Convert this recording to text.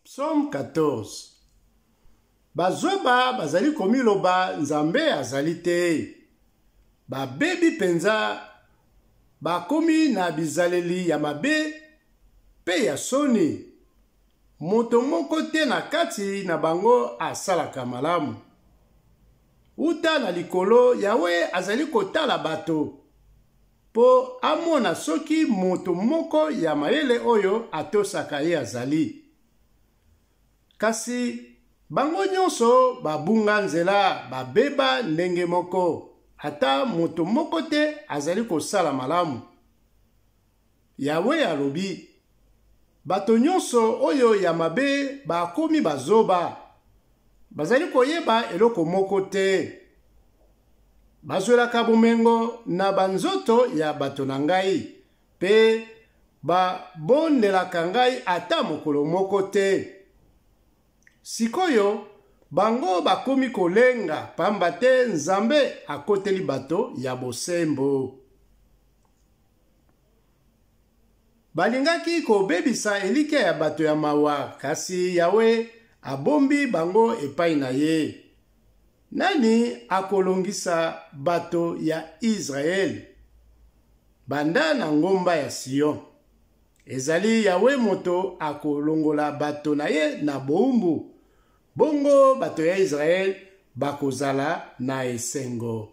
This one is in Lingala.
Psaume 14 Bazoba bazali komiloba Nzambe azali te. Babebi mpenza, bakomi na bizaleli ya mabe mpe ya soni. Moto moko te na kati na bango asalaka malamu. Uta na likolo, Yawe azali kotala bato mpo amona soki moto moko ya mayele oyo atosaka ye azali. Kasi bango nyonso babunga nzela, babeba ndenge moko, ata moto moko te azali kosala malamu. Yawe alobi, Bato nyonso oyo ya mabe bakomi bazoba, bazali koyeba eloko moko te. Bazwelaka bomengo na banzoto ya bato na ngai, mpe babondelaka ngai ata mokolo moko te. Sikoyo bango bakomi kolenga, pamba te Nzambe akoteli bato ya bosembo. Balingaki kobebisa elikya ya bato ya mawa, kasi Yawe abombi bango epai na ye. Nani akolongisa bato ya Israele? Banda na ngomba ya Sion. Ezali Yawe moto akolongola bato na ye na boumbu. Bongo bato ya Israele bakozala na esengo.